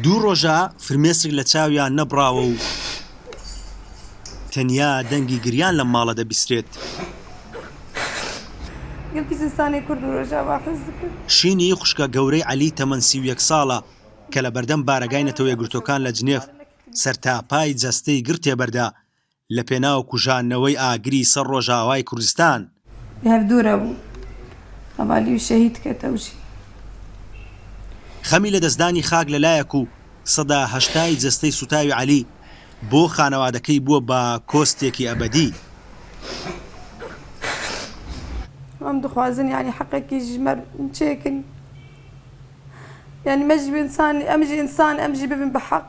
دوو ڕۆژە فرمێسک لە چاویان نەبڕاوە و تەنیا دەنگی گریان لەم ماڵە دەبیسرێت. شینی خوشکە گەورەی عەلی تەمەن سی و یەک ساڵە کە لە بەردەم بارەگای نەتەوە یەکگرتووەکان لە جنێف سەرتاپای جەستەی گرتێ بەردا، لە پێناو کوژاندنەوەی ئاگری سەر ڕۆژاوای کوردستان. هەر دوورە بوو هەڤالی و شەهید کە تەوژی. خەمی لەدەستدانی خاک لە لایەک و سەدا هەشتای جەستەی سووتاوی عەلی بۆ خانەوادەکەی بووە بە کۆستێکی ئەبەدی. ئەم دخوازن یانی حەقەکی ژ مەر چێکن یانی مەژ ئنسان ئەمژ ئنسان ئەمژی ببن بە حەق.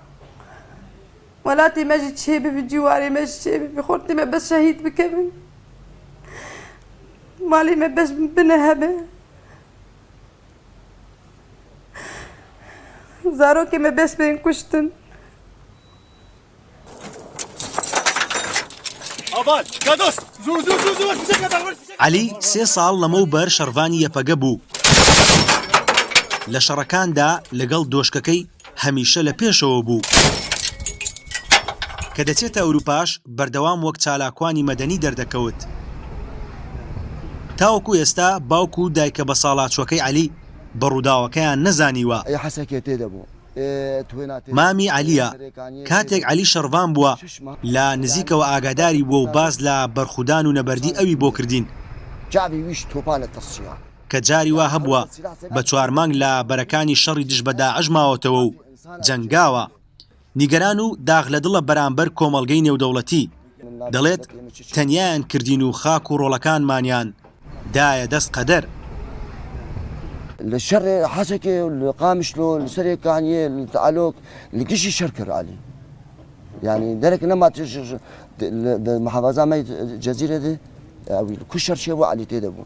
وەلا تیمە ژی چێ ببی جواری مە ژی چێ ببی خۆر تیمە بەس شەهید بکەبن مالی مە بەس بنە هەبێ زارۆکی مە بەس بێن کوشتن عەلی سێ ساڵ لەمە و بەر شەڕڤانی یەپەگە بوو لە شەڕەکاندا لەگەڵ دۆشکەکەی هەمیشە لە پێشەوە بوو. کە دەچێتە ئەوروپاش بەردەوام وەک چالاکوانی مەدەنی دەردەکەوت. تاوەکو ئێستا باوک و دایکە بەساڵاچووەکەی عەلی بە ڕووداوەکەیان نەزانیوە. مامی عەلییە. کاتێک عەلی شەڕڤان بووە، لە نزیکەوە ئاگاداری بووە و باس لە بەرخودان و نەبەردی ئەوی بۆ کردین. کە جاری وا هەبووە بە چوار مانگ لە بەرەکانی شەڕی دژ بە داعش ماوەتەوە و جەنگاوە، نیگەران و داخ لە دڵە بەرامبەر کۆمەڵگەی نێودەوڵەتی، دەڵێت، تەنیایان کردین و خاک و ڕۆڵەکانمانیان دایە دەست قەدەر. لە شەڕ حەسەکێ و لە قامیشلۆ لە سەرێ کانیێ لە تەعەلۆک لە گشی شەر کەر عەلی. یانی دەرەک نەما محافظە مەی جەزیرە دێ ئەوی کوشەر شێ بۆ عەلی تێدەبوو.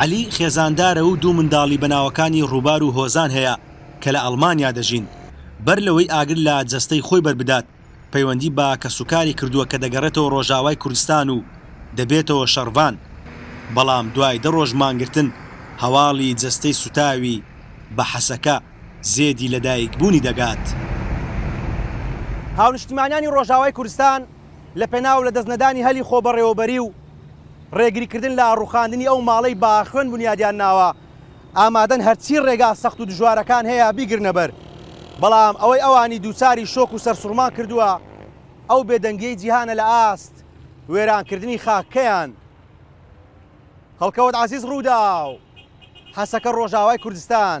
عەلی خێزاندارە و دوو منداڵی بە ناوەکانی ڕووبار و هۆزان هەیە کە لە ئەڵمانیا دەژین، بەر لەوەی ئاگر لە جەستەی خۆی بەربدات، پەیوەندی بە کەسوکاری کردووە کە دەگەڕێتەوە ڕۆژاوای کوردستان و دەبێتەوە شەڕڤان، بەڵام دوای دە ڕۆژ مانگرتن هەواڵی جەستەی سوتاوی بە حەسەکە زێدی لەدایکبوونی دەگات. هاونیشتیمانیانی ڕۆژاوای کوردستان لە پێناو لە دەست نەدانی هەلی خۆبەڕێوەبەری و ڕێگری کردن لە ڕوخاندنی ئەو ماڵەی باخوێن بنیادیان ناوە ئامادەن هەرچی ڕێگا سەخت و دژوارەکان هەیە بیگرنە بەر بەڵام ئەوەی ئەوانی دووچاری شۆک و سەرسوڕمان کردووە ئەو بێدەنگیەی جیهانە لە ئاست وێرانکردنی خاککەیان هەڵکەوت عزیز ڕووداو حەسەکە ڕۆژاوای کوردستان.